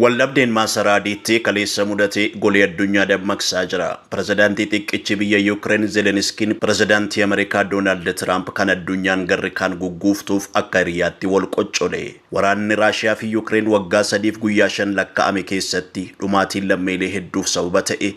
Waldhabdeen Maasaraa Adiitti kaleessa mudate golee addunyaa dammaqsaa jira. Pirezidaantii xiqqichi biyya Yuukireen Zeleniskiin pirezidaantii Ameerikaa Doonaald Tiraamp kan addunyaan garri kaan gugguuftuuf akka hiriyaatti wal qoccole. Waraanni Raashiyaa fi Yuukireen waggaa sadiif guyyaa shan lakka'ame keessatti dhumaatiin lammiilee hedduuf sababa ta'e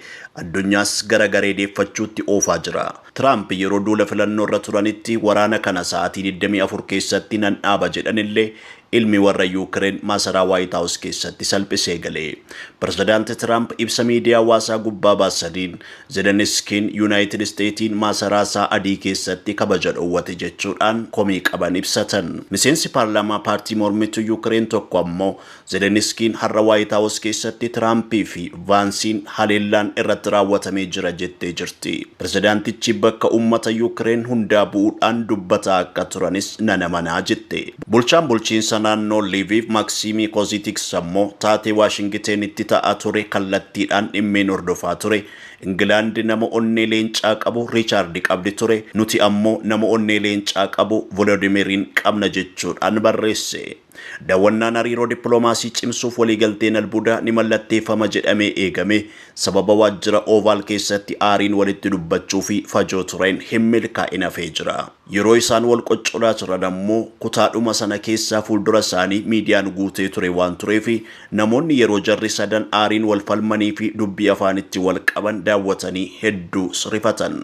addunyaas gara garee deeffachuutti oofaa jira. Tiraamp yeroo duula filannoorra turanitti waraana kana sa'aatii 24 keessatti nan dhaaba jedhanillee Ilmi warra Yuukireen maasaraa Waayit Haawus keessatti salphisee gale. Pirezidaanti Tiraamp ibsa miidiyaa hawaasaa gubbaa baasaniin, Zeleniskiin Yuunaayitid Isteetiin maasaraa isaa adii keessatti kabaja dhowwate jechuudhaan komii qaban ibsatan. Miseensi paarlaamaa paartii mormituu Yuukireen tokko ammoo Zeleniskiin har'a Waayit Haawus keessatti Tiraampii fi Vaansiin haleellaan irratti raawwatamee jira jettee jirti. Pirezidaantichi bakka uummata Yuukireen hundaa bu'uudhaan dubbataa akka turanis nan amana jette. Bulchaan bulchiinsa naannoo Liviiv Maksiimii Koziitiks ammoo taatee Waashingiteenitti ta'aa ture kallattiidhaan dhimmeen hordofaa ture. Ingilaandi nama onnee leencaa qabu Riichaardi qabdi ture, nuti ammoo nama onnee leencaa qabu Volodimiriin qabna jechuudhaan barreesse. Dawwannaan hariiroo dippilomaasii cimsuuf waliigalteen albuudaa ni mallatteeffama jedhamee eegame sababa waajjira Ovaal keessatti aariin walitti dubbachuu fi fajoo tureen hin milkaa'in hafee jira. Yeroo isaan wal qoccolaa turan ammoo kutaadhuma sana keessaa fuuldura isaanii miidiyaan guutee ture waan tureef namoonni yeroo jarri sadan aariin wal falmanii fi dubbii afaanitti wal qaban daawwatanii hedduu rifatan.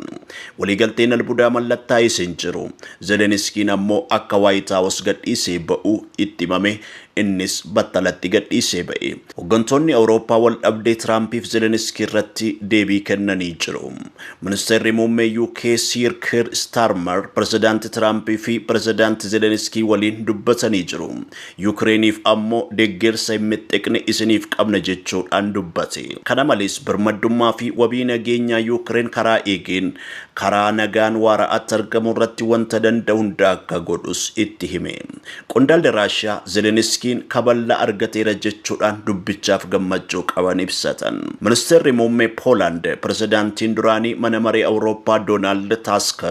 Waliigalteen albudaa mallattaa'es hin jiru. Zeleniskiin ammoo akka Waayit Haawos gadhiisee ba'u itti himame Innis battalatti gadhiisee ba'e. Hoggantoonni Awurooppaa waldhabdee Tiraampiif Zeleniskii irratti deebii kennanii jiru. Ministeerri Muummee UK Siir Kiir Istaarmar Pirezidaanti Tiraampii fi Pirezidaanti Zeleniskii waliin dubbatanii jiru. Yukireeniif ammoo deggersa hin mixxiqne isiniif qabna jechuudhaan dubbate. Kana malees birmaddummaa fi wabii nageenyaa Yukireen karaa eegeen karaa nagaan waara'aatti argamu irratti wanta danda'u hunda akka godhus itti hime. Qondaalli Raashiyaa Zeleniskiin kaballaa argateera jechuudhaan dubbichaaf gammachuu qaban ibsatan. Ministeerri Muummee Poolaand Pirezidaantiin duraanii Mana Maree Awurooppaa Doonaald Taask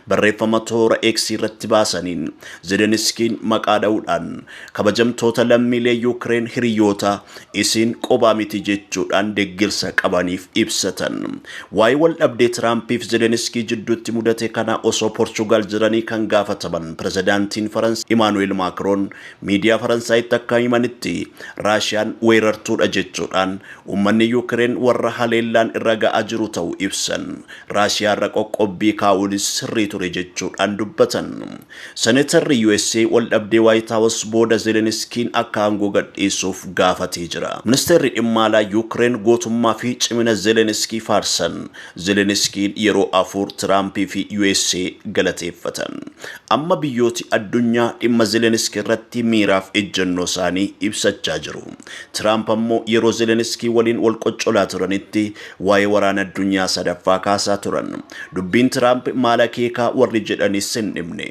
barreeffama toora X irratti baasaniin Zeleniskiin maqaa dha'uudhaan kabajamtoota lammiilee Yuukireen hiriyoota isiin qobaa miti jechuudhaan deggersa qabaniif ibsatan. Waa'ee waldhabdee Tiraampiif Zeleniskii jidduutti mudate kanaa osoo Porchugaal jiranii kan gaafataman Pirezidaantiin Faransaay Imaanu'eel Maakroon miidiyaa Faransaayitti akka himanitti Raashiyaan weerartuudha jechuudhaan uummanni Yuukireen warra haleellaan irra ga'aa jiru ta'uu ibsan. Raashiyaarra qoqqobbii kaa'uunis sirrii ture jechuudhaan dubbatan. Senetarri usa waldhabdee Waayit Haawus booda Zeleniskiin akka aangoo gadhiisuuf gaafatee jira. Ministeerri Dhimma Alaa Yuukireen gootummaa fi cimina Zeleniskii faarsan. Zeleniskiin yeroo afur Tiraampii fi usa galateeffatan. Amma biyyooti addunyaa dhimma Zeleniskii irratti miiraaf ejjennoo isaanii ibsachaa jiru. Tiraamp ammoo yeroo Zeleniskii waliin wal qoccolaa turanitti Waa'ee waraana addunyaa sadaffaa kaasaa turan. Dubbiin Tiraamp maal akeekaa warri jedhanis hin dhibne.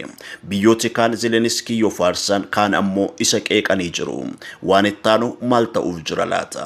Biyyooti kaan Zeleniskii yoo faarsan kaan ammoo isa qeeqanii jiru. Waan ittaanu maal ta'uuf jira laata?